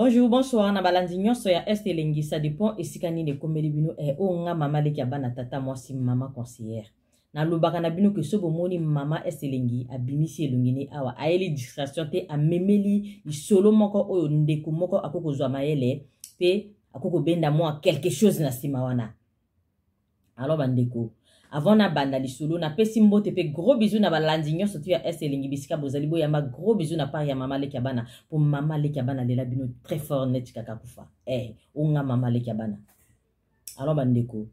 bonjour bonsoir na balandi nyonso ya est elengi ça dépend esika nini ekombeli bino e eh, oyo nga mama leki ya bana tata mwasi mama conseillere nalobaka na bino ke so bomoni mama est elengi abimisi elongi ne awa ayeli distraction te amemeli lisolo moko oyo ndeko moko akoki kozwa mayele mpe akoki kobenda mwa quelque chose na nsima wana alors bandeko avant nabanda lisolo napesi mbote mpe gros bisou na balandi nyonso tu ya est elingi bisika bozali boyamba gros bisou na part ya mama leki ya bana mpo mama leki ya bana lela bino très fort neti kaka kufa e eh, onga mama leki ya bana alors bandeko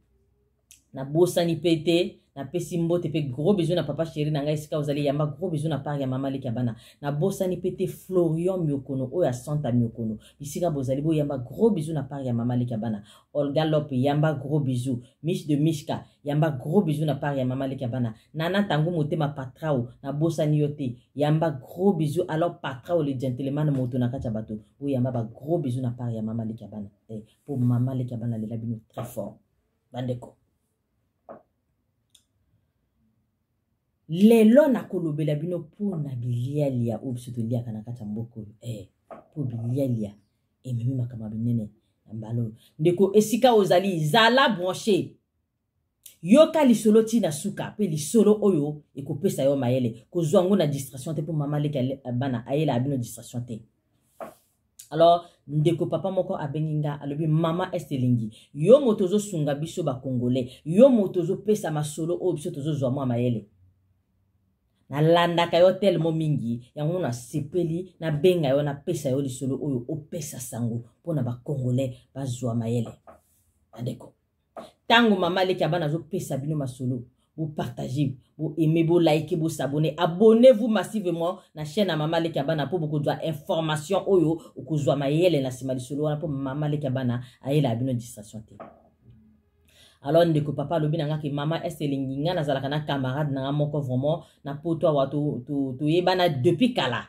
nabosani mpe te napesi mbote mpe gros bisou na papa chéri na ngai esika ozali yamba gros bisou na part ya mama leki ya bana nabosani mpe te florian miokono oyo asanta miokono bisika bozali boyamba gros bisou na part ya mama leki ya bana Olga Lop yamba gros bisous Miss de Mishka yamba gros bisous na part ya mama leki ya bana Nana tangu motema patrao na bosani yo te yamba gros bisous alors patrao le gentleman moto na kati ya bato bo yamba ba gros bisous na part ya mama leki ya bana eh, po mama leki ya bana lela bino très fort bandeko lelo nakolobela bino mpo na bilialia oyo biso toliaka na kati ya mboka oyo eh, mpo bilialia ememi makambo ya minene na mbala oyo ndeko esika ozali zala branche yoka lisolo ti na suka mpe lisolo oyo ekopesa yo mayele kozwa yango na distraction te mpo mama leki bana ayelaka bino distraction te alors ndeko papa moko abengi nga alobi mama est elingi yo moto ozosunga biso bacongolais yo moto ozopesa masolo oyo biso tozozwa mwa mayele nalandaka yo telemo mingi yango nasepeli nabenga yo napesa yo lisolo oyo opesa sango mpo na bacongolais bazwa mayele bandeko tango mama leki abana azopesa bino masolo bopartage boaime bolike bosabone abonnez vous massivement na chaîne ya mama leki ya bana mpo bokozwa information oyo okozwa mayele na nsima lisolo wana mpo mama leki ya bana ayelaka bino distraction te alors ndeko papa alobi na ngaki mama ese elingi ngai nazalaka na camarade na ngai moko vraiment na poto awa toyebana to, to depuis kala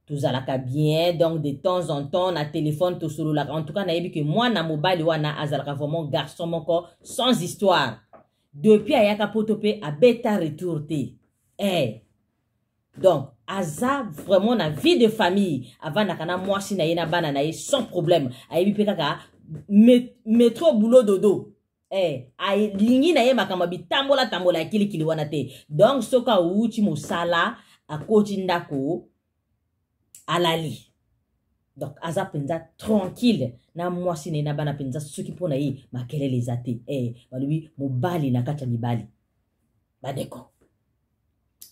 tozalaka bien donc de temps en temps na téléphone tosololaka en tout cas nayebi ke mwana mobali wana azalaka vraiment garçon moko sans histoire depuis ayaka poto mpe abeta retour te eh. donc aza vraiment na vie de famille avandaka na mwasi na ye na bana na ye sans problème ayebi mpe kaka metro boulot dodo eh, alingi na ye makambo bitambola tambola ya kilikili wana te donc soki awuti mosala akoti ndako alali donc aza mpenza tranquille na mwasi na ye na bana mpenza soki mpo na ye makelele eza te eh, balobi mobali na kati ya mibali bandeko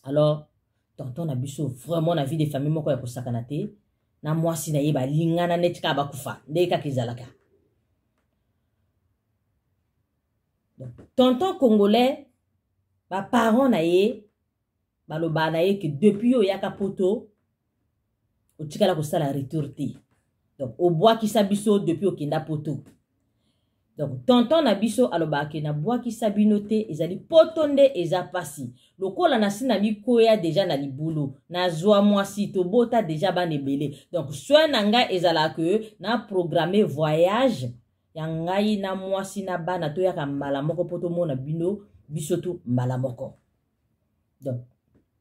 alors tonton na biso vraiment na vie de famille moko ya kosakana te na mwasi na ye balingana neti kaka bakufa ndenge kaka ezalaka tonton congolais baparent na ye balobaa na ye ke depuis yo oyaka poto otikala kosala retour te donc obwakisa biso depuis okenda poto donc tonton na biso alobaka ke nabwakisa bino te ezali poto nde eza mpasi lokola nasi na mikweya deja na libulu nazwa mwasi tobota deja bana ebele donc soin na ngai ezalaka ke na programme voyage ya ngai na mwasi na bana toyaka mbala moko mpo tomona bino biso tu mbala moko donc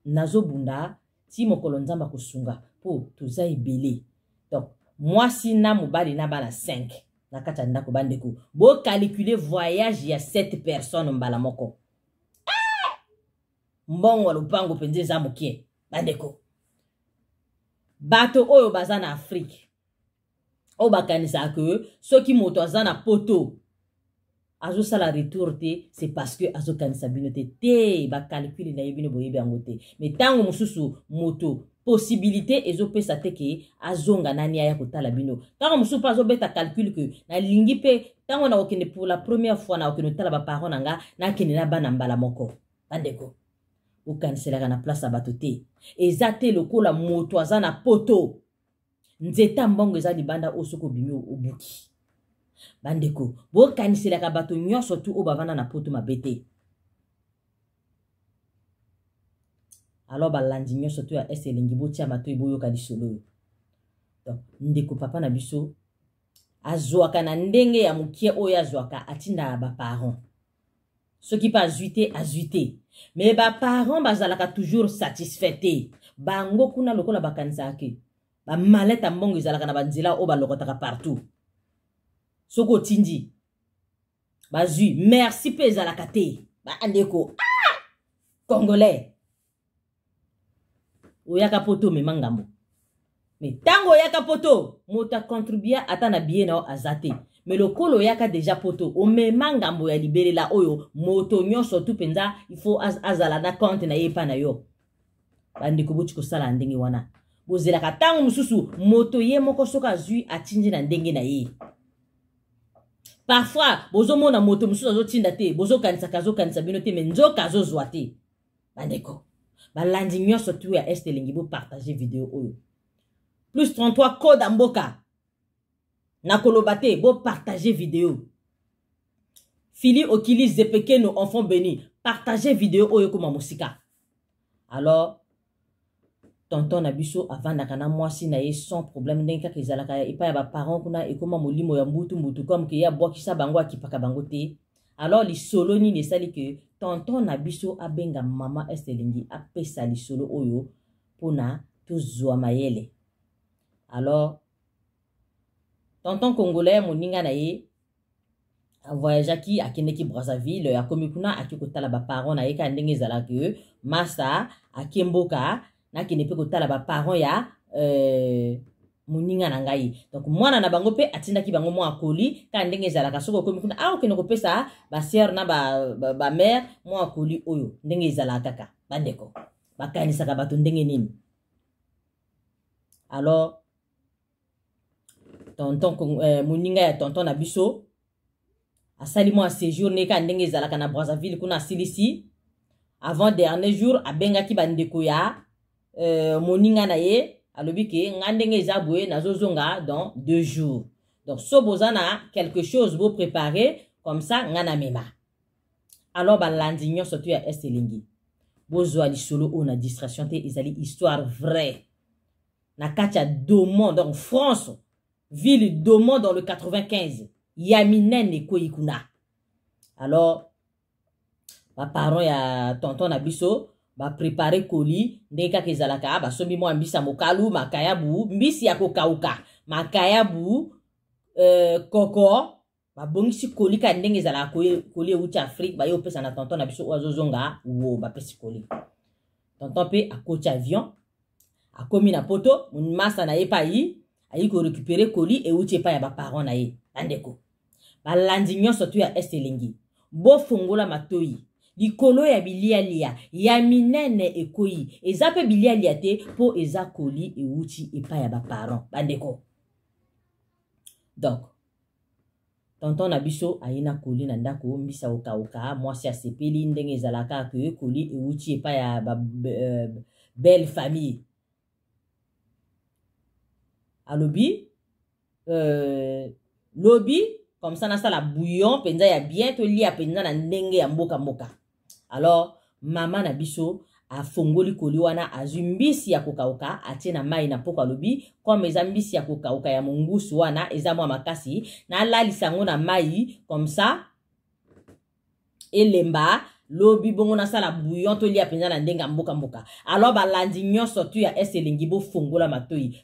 nazobunda ti mokolo nzambe akosunga mpo toza ebele donc mwasi na mobali na bana 5 na kati ya ndako bandeko bokalikule voyage ya 7 personne mbala moko ah! mbongo ya lopango mpenza eza moke bandeko bato oyo baza na afrike oyo bakanisaka ke soki moto aza na poto azosala retour te c'est parce que azokanisa bino te te bacalcule na ye bino boyebi yango te mais ntango mosusu moto possibilité ezopesa te ke azonga nani aya kotala bino ntango mosusu mpe azobeta calcul ke nalingi mpe ntango nakokende pour la première fois nakokende kotala baparent na nga nakende na bana mbala moko bandeko okaniselaka na place ya bato te eza te lokola moto aza na poto nzete ya mbongo eza libanda oyo soki obimi obuki bandeko bokaniselaka bato nyonso tu oyo bavanda na poto mabe te alors balandi nyonso to ya ese elingi botia matoi boyoka lisolo oyo donc ndeko papa na biso azwaka na ndenge ya mokie oyo azwaka atindaka baparent soki mpe azwi te azwi te me baparent bazalaka toujours satisfait te bango kuna lokola bakanisaka ke bamalete ya mbongo ezalaka na banzela oyo balokotaka partout soki otindi bazwi merci mpe ezalaka te bandeko ah! congolais oyaka poto omema ngambo me ntango oyaka poto moto acontribua ata na biye na yo aza te me lokola oyaka deja poto omema ngambo ya libelela oyo moto nyonso tu mpenza ifo azala na konte na ye epai na yo bandeko boti kosala ndenge wana bozelaka ntango mosusu moto ye moko soki azwi atindi na ndenge na ye parfois bozomona moto mosusu azotinda te bozokanisaka azokanisa bino te me nzoka azozwa te bandeko balandi nyonso tu ya este elingi bopartage video oyo plus 33 koda mboka nakoloba te bopartage video fili okili zepekeno enfant beni partage video oyo ekoma mosika alors tonton na biso avandaka na mwasi na ye sans problème ndenge kaka ezalaka epai ya baparent kuna ekoma molimo ya mbutu mbutu comme ke ye abwakisa bango akipaka bango te alors lisolo nini esali ke tonton na biso abenga mama estelingi apesa lisolo oyo mpona tozwa mayele alors tonton congolais moninga na ye avoyageaki akendeki brazzaville akomi kuna ake kotala baparent na ye kaka ndenge ezalaka ye masa ake mboka nakende mpe kotala baparent ya euh, moninga na ngai donc mwana na bango mpe atindaki bango mwa akoli kaka ndenge ezalaka soki okomi kuna awa ah, okende kopesa basere na bamare ba, ba, ba mwa akoli oyo ndenge ezalaka kaka bandeko bakanisaka bato ndenge nini alors tonton eh, moninga ya tonton na biso asali mwa séjour ne kaka ndenge ezalaka na brazzaville kuna asilisi avant dernier jour abengaki bandeko ya euh, moninga na ye alobi ke nga ndenge eza boye nazozonga dans deux jours donc so boza na quelque chose boprépare comme ça nga na mema alors balandi nyonso to ya est elingi bozwa lisolo oyo na distraction te ezali histoire vraie na kati ya domon donc france ville domon dans le 95 ya minene ekwei kuna alors baparent ya tonton na biso baprepare koli ndenge kaka ezalaka basombi mwa mbisi ya mokalu makayabu mbisi ya kokauka makayabu euh, koko babongisi koli ka ndenge ezalaka koli euti afrike baye opesa na tonton na biso oyo azozonga wo bapesi koli tonton mpe akoti avion akomi na poto masa na ye mpe ayi ayi korecupere koli euti epai ya baparent na ye bandeko balandi nyonso to ya este elengi bofongola matoi likolo ya bilialia ya minene ekweyi eza mpe bilialia te mpo eza koli euti epai ya baparent bandeko donc tonton na biso aye na koli na ndako mbisa okaoka mwasi asepeli ndenge ezalaka ke koli ewuti epai ya ba euh, belle famille alobi euh, lobi comme ça nasala bouillon mpenza ya bien tolia mpenza na ndenge ya mboka mboka alors mama na biso afongoli koli wana azwi mbisi ya kokauka atie na mai na mpoko alobi comme eza mbisi ya kokauka ya mongusu wana eza mwa makasi nalalisa yango na mai comme ça elemba lobi bongo nasala bouillon tolia mpenza na ndenge ya mbokamboka alors balandi nyonso tu ya est elingi bofongola matoi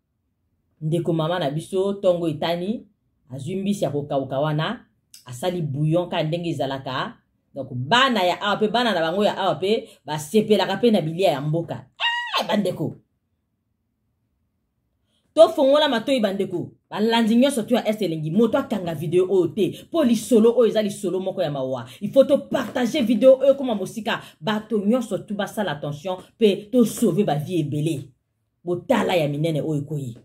ndeko mama na biso ntongo etani azwi mbisi ya kokauka wana asali bouillon kaka ndenge ezalaka donc bana ya awa mpe bana na bango ya awa mpe basepelaka mpe na bilia ya mboka hey, eh, bandeko tofongola matoi bandeko balandi nyonso to ya este elengi moto akanga video oyo te mpo lisolo oyo eza lisolo moko ya mawa il faut topartage video oyo ekóma mosika bato nyonso tu basala attention mpe tosauve bavie ebele botala ya minene oyo ekoyi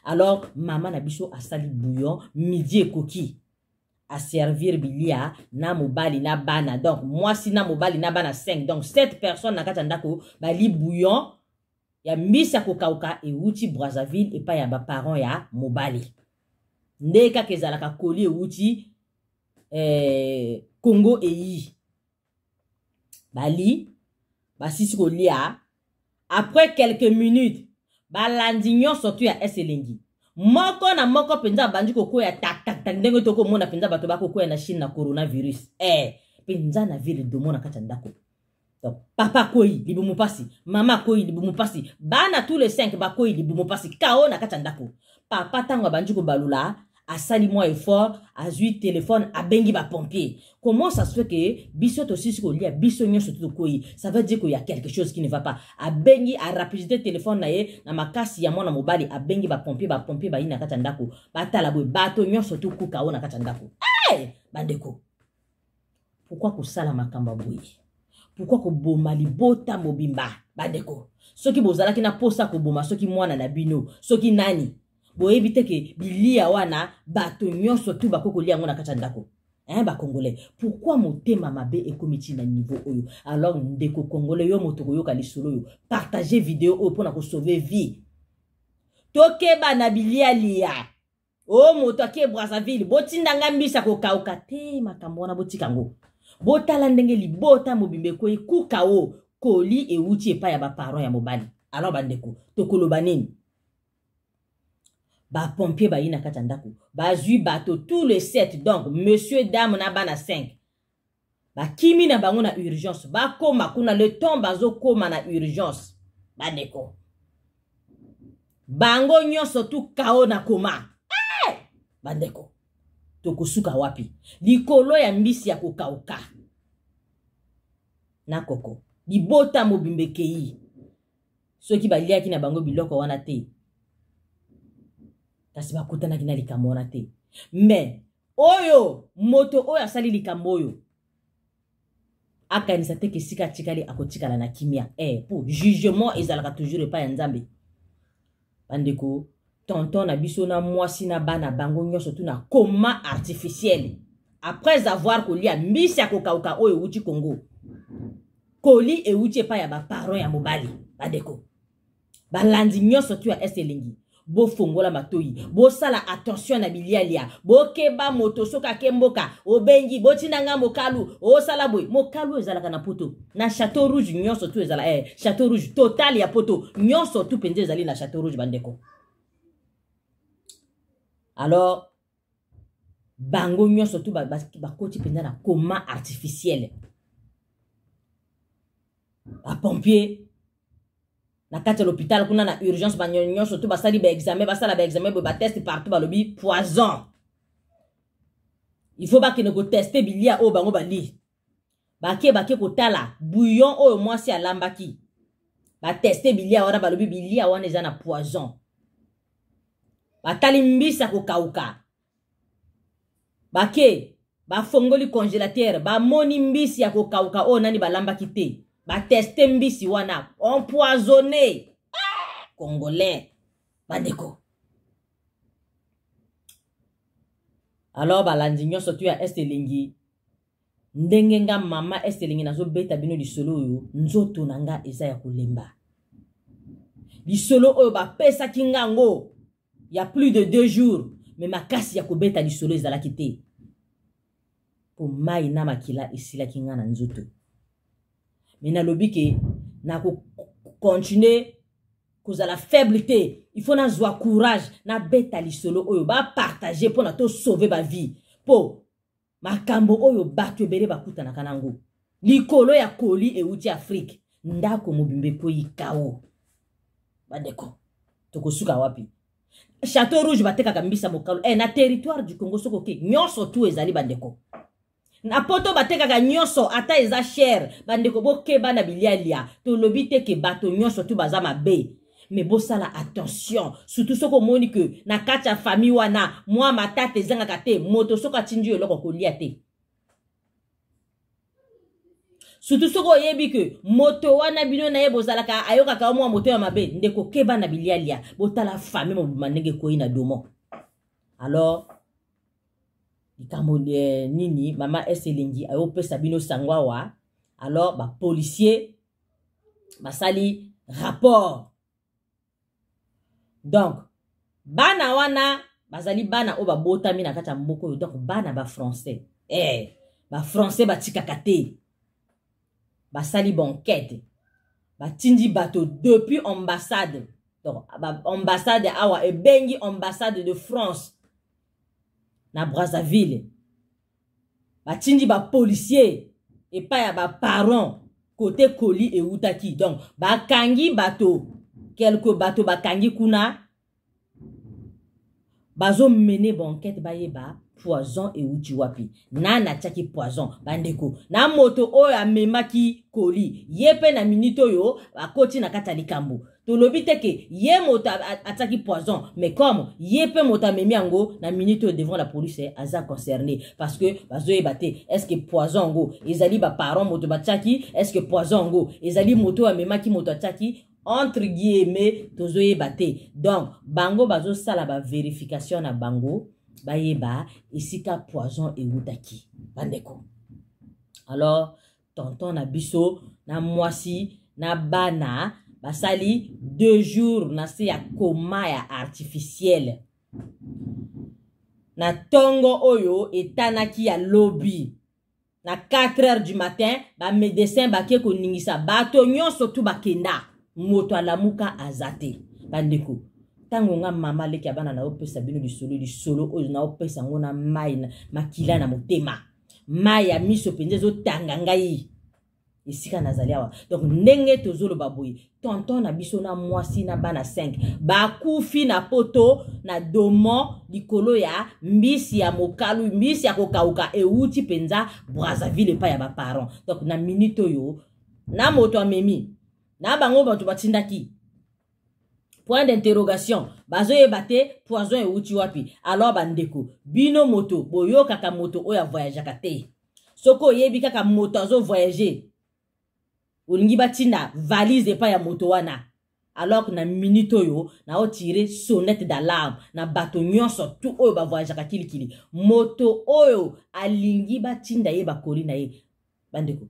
alors mama na biso asali bouillon midi ekoki aservir bilia na mobali na bana donc mwasi na mobali na bana 5 donc 7 personnes na kati ya ndako bali bouillon ya mbisi ya kokauka ewuti brazzaville epai ya baparent ya mobali nde kaka ezalaka koli ewuti eh, congo eyi bali basisi kolia après quelques minutes balandi nyonso tu ya es elengi moko na moko mpenza abandi kokwea taktakta ndenge tokomona mpenza bato bakokwea na chine na coronavirus eh, mpenza na ville domo na kati ya ndako donc papa akwei libumu mpasi mama akwei libumu mpasi bana tous les cinq bakwei libumu mpasi kao na kati ya ndako papa ntango abandi kobalula asali mwa effort azwi telefone abengi bapompier comment ça se fait ke biso tosisi kolia biso nyonso te tokwei ça veut dire koya quelque chose qui ne va pas abengi arapidite telefone na ye na makasi ya mwana mobali abengi bapompier bapompier bayi na kati ya ndako batala boye bato nyonso tokuka oyo na kati ya ndako hey! bandeko pourkui kosala makambo ya boye pourkui koboma libota mobimba bandeko soki bozalaki na mposa koboma soki mwana na bino soki nani boyebi te ke bilia wana bato nyonso tu bakoki kolia yango na kati ya ndako hein, bacongolais pourkui motema mabe ekomi ntina niveau oyo alors ndeko congolais yo moto koyoka lisolo oyo partage video oyo mpo na kosauve vie tokeba na bilialia o oh, moto ake brazzaville botinda ngai mbisi ya kokauka te makambo wana botika yango botala ndenge libota mobimba ekwei kuka o koli euti epai ya baparent ya mobali alors bandeko tokoloba nini bapompier bayi na kati ya ndako bazwi bato tout le 7 donc monsieur dame na bana 5 bakimi na bango na urgence bakoma kuna le temps bazokoma na urgence bandeko bango nyonso tu kao na koma hey! Eh! bandeko tokosuka wapi likolo ya mbisi ya kokauka na koko libota mobimba ekei soki baliaki na bango biloko wana te kasi bakutanaki na likambo wana te me oyo moto oyo asali likambo oyo akanisa te kesika atikali akotikala na kimia eh, po jugement ezalaka toujours epai ya nzambe bandeko tonton na biso na mwasi na bana bango nyonso tu na coma artificiel après avoir kolia mbisi ya kokauka oyo euti kongo koli euti epai ya baparent ya mobali bandeko balandi nyonso tu ya este elingi bofongola matoi bosala attention na bilialia bokeba moto soki ake mboka obengi botinda ngai mokalu osala boye mokalu oyo ezalaka na poto na chateau rouge nyonso tu ezala eh, chateau rouge total ya poto nyonso tu mpenza ezali na chateau rouge bandeko alors bango nyonso tu bakoti ba, ba mpenza na coma artificiel bapompier na kati ya lopital kuna na urgence banyo nyonso tu basali baexamen basala baexamen boye bateste partout balobi poison il faut bakende koteste bilia oyo bango balie bake bake kotala bouillon oyo mwasi alambaki bateste bilia wana balobi bilia wana eza na poison batali mbisi ya kokauka bake bafongoli congélateur bamoni mbisi ya kokauka oyo nani balambaki te bateste mbisi wana empoisonne ah! congolais bandeko alors balandi nyonso tu ya est elingi ndenge nga mama estelingi nazobeta bino lisolo oyo nzoto na nga eza ya kolemba lisolo oyo bapesaki nga yango ya plus de deux jours me makasi ya kobeta lisolo ezalaki te mpo mai na makila esilaki nga na nzoto me nalobi ke nakokontinue kozala faible te il faut nazwa courage nabeta lisolo oyo bapartage mpo na tosauve bavie mpo makambo oyo bato ebele bakutanaka nango likolo ya koli euti afrike ndako mobimba ekwei kao bandeko tokosuka wapi chateau rouge batekaka mbisa mokalo e eh, na territoire du congo soki oke nyonso tu ezali bandeko na poto batekaka nyonso ata eza chere bandeko bokeba na bilialia tolobi te ke bato nyonso tu baza mabe mais bosala attention surtout soki omoni ke na kati ya famille wana mwa matata ezangaka te moto soki atindi yo eloko kolia te surtout soki oyebi ke moto wana bino na ye bozalaka ayokaka yo mwa moto ya mabe ndeko keba na bilialia botala fami mobima ndenge ekwei na domo alors likambo eh, nini mama es elengi ayopesa bino sango awa alors bapolicier basali rapport donc bana wana bazali bana oyo babotami na kati ya mboka oyo donc bana bafrançais eh, bafrançais batikaka te basali bankete batindi bato depuis ambassade donc ambassade awa ebengi ambassade de france na brazzaville batindi bapolisier epai ya baparent kote koli eutaki donc bakangi bato quelque bato bakangi kuna bazomene baenquete bayeba poison euti wapi nani atyaki poison bandeko na moto oyo amemaki koli ye mpe na minite oyo akoti na kati ya likambo tolobi te ke ye moto atiaki poison mais comme ye mpe moto amemi yango na minute oyo devant la police eh, aza concerné parce que bazoyeba te est ce que poison yango ezali baparent moto batiaki est ce que poison yango ezali moto oyo amemaki moto atiaki entre guillemets tozoyeba te donc bango bazosala bavérification na bango bayeba esika poison ewutaki bandeko alors tonton na biso na mwasi na bana basali deux jours na se ya koma ya artificiele na ntongo oyo etanaki ya lobi na 4 heures du matin bamedecin bake koningisa bato nyonso tu bakenda moto alamuka aza te bandeko ntango nga mama leki ya bana naopesa bino lisolo lisolo oyo naopesa yango na mai makila na motema mai ya miso mpenza ezotanga ngai esika nazali awa donc ndenge tozoloba boye tonton na biso na mwasi na bana 5 bakufi na poto na domo likolo ya mbisi ya mokalu mbisi ya kokauka euti mpenza brazzaville epai ya baparent donc na minute oyo na moto amemi na bango bato batindaki point d'interrogation bazoyeba te poison ewuti wapi alors bandeko bino moto boyokaka moto oyo avoyageaka te soki oyebi kaka moto azovoyage olingi batinda valise epai ya moto wana alors na minute oyo naotire sonnette d'alarme na bato nyonso tu oyo bavoyageaka kilikili moto oyo alingi batinda ye bakoli na ye bandeko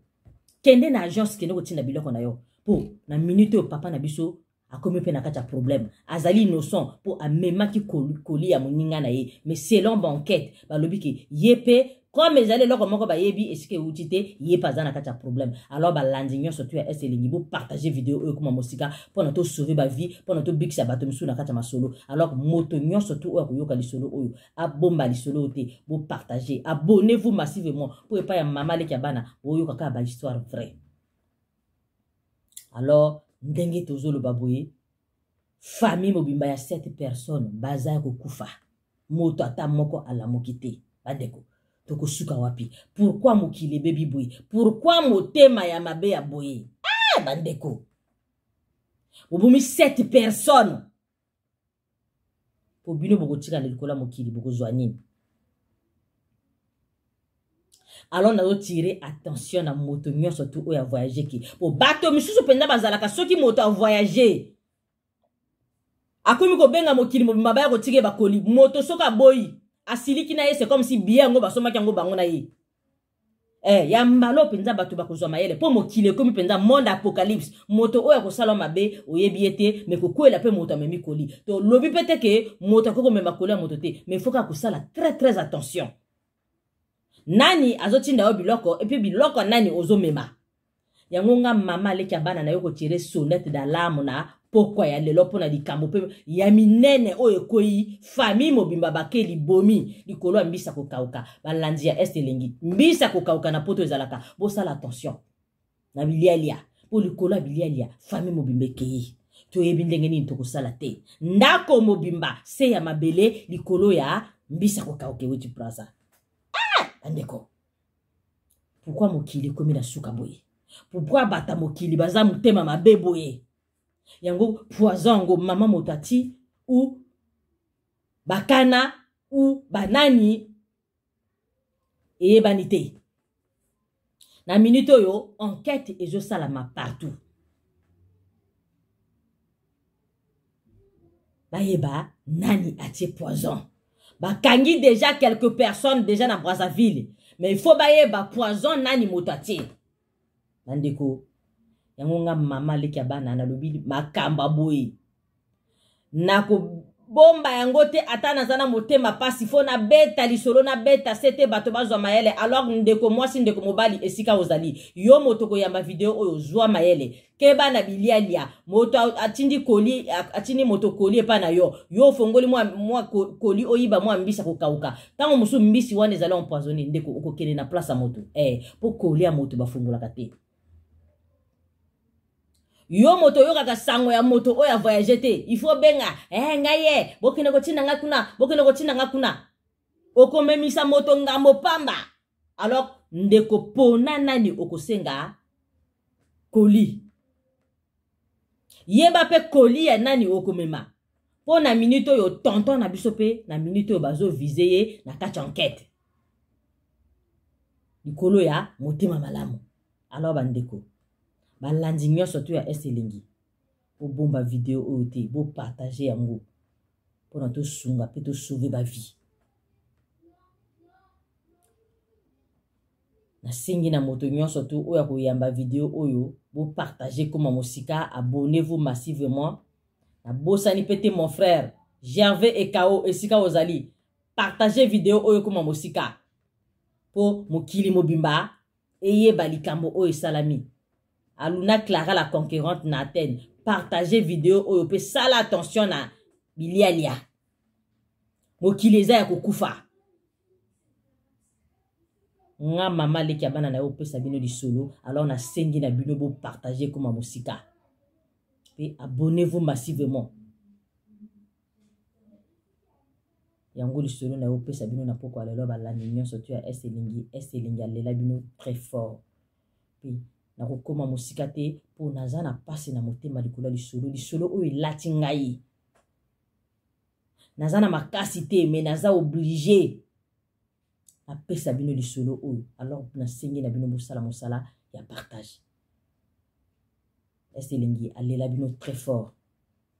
kende na agence kende kotinda biloko na yo mpo na minute oyo papa na biso akomi mpe na kati ya problème azali innocent mpo amemaki koli ya moninga na ye mais selon banquete balobi ke ye mpe comme ezali eloko moko bayebi esika euti te ye mpe aza na kati ya problème alors balandi nyonso to ya est elingi bopartage video oyo ekoma mosika mpo na tosauve bavie mpo na tobikisa bato mosusu na kati ya masolo alors moto nyonso to oyo akoyoka lisolo oyo abomba lisolo oyo te bopartage abonnez vous massivement mpo epai ya mama leki ya bana boyoka kaka bahistoire vrai alors ndenge tozoloba boye famille mobimba ya 7 personne baza ya kokufa moto ata moko alamuki te bandeko tokosuka wapi pourkui mokili ebebi boye pourkui motema ya mabe ya boye ah, bandeko bobomi 7 personne mpo bino bokotikala likolo ya mokili bokozwa nini alors nazotire attention na moto nyonso tu oyo avoyage ki mpo bato misusu mpenza bazalaka soki moto avoyage akomi kobenga mokili mobimba baya kotika ye bakoli moto soki aboyi asiliki na ye se comme si biye yango basombaki yango bango na ye eh, ya mbala mpenza bato bakozwa mayele mpo mokili ekomi mpenza monde apocalypse moto oyo akosala mabe oyebi ye te me kokwela mpe moto amemi koli tolobi mpe te ke moto akoki komema koli ya moto te me foka akosala très très attention nani azotinda yo biloko epuis biloko nani ozomema yango nga mama aleki ya bana na yo kotire sonete dalamu na pokwa ya lelo mpo na likambo mpe ya minene oyo ekwei famille mobimba bake libomi likolo ya mbisa kokauka balandi ya este elengi mbisa kokauka na poto ezalaka bosala attention na bilialia mpo likolo ya bilialia famille mobimba ekei toyebi ndenge nini tokosala te ndako mobimba se ya mabele likolo ya mbisa kokauka eweti braza ah, bandeko pourkui mokili ekomi na suka boye pourkui bata mokili baza motema mabe boye yango poison yango mama moto ati u bakana u banani eyebani te na minute oyo enquête ezosalama partout bayeba nani atie poison bakangi deja quelques personnes deja na brazzaville mais il faut bayeba poison nani moto atie bandeko yango nga mama leki ya bana nalobi makambo aboye nakobomba yango te ata naza na motema mpasi fo nabeta lisolo nabeta se te bato bazwa mayele alors ndeko mwasi ndeko mobali esika ozali yo moto koyamba video oyo zwa mayele keba na bilialia moto atindi koli atindi moto koli epa na yo yo ofongoli mwa, mwa koli oyiba mwa mbisi akokauka ntango mosusu mbisi wana ezali empoisonne ndeko okokende na place ya moto eh, mpo koli ya moto bafungolaka te yo moto oyokaka sango ya moto oyo avoyage te ifo obenga eh, ngai ye eh, bokende kotinda ngai kuna bokende kotinda ngai kuna okomemisa moto ngambo pamba alors ndeko pona nani okosenga colis yeba mpe colis ya nani okomema mpo na minute oyo tonton na biso mpe na minute oyo bazovise ye na kati enquete likolo ya motema malamu alors bandeko balandi nyonso to ya est elingi bobomba video oyo te bopartage yango mpona tosunga mpe tosauve bavie nasengi na moto nyonso to oyo akoyamba video oyo bopartage koma mosika abonnez-vous massivement nabosani mpe te mon frère gervais ekao esika ozali partage video oyo koma mosika mpo mokili mobimba eyeba likambo oyo esalami aluna clara la concurrente na atene partage video oyo mpe sala attention na bilialia mokili eza ya kokufa nga mama leki ya bana na yo opesa bino lisolo alors nasengi na bino bopartage ekoma mosika mpe abonnez-vous massivement yango lisolo na yo pesa bino na pokwa lelo balandi nyonso to ya est elingi est elingi alela bino très fort mpe nakokoma mosika te mpo naza na mpasi na motema likolo ya lisolo lisolo oyo elati ngai naza na makasi te me naza oblige napesa bino lisolo oyo alors nasengi na bino bosala mosala ya partage est elingi alela bino très fort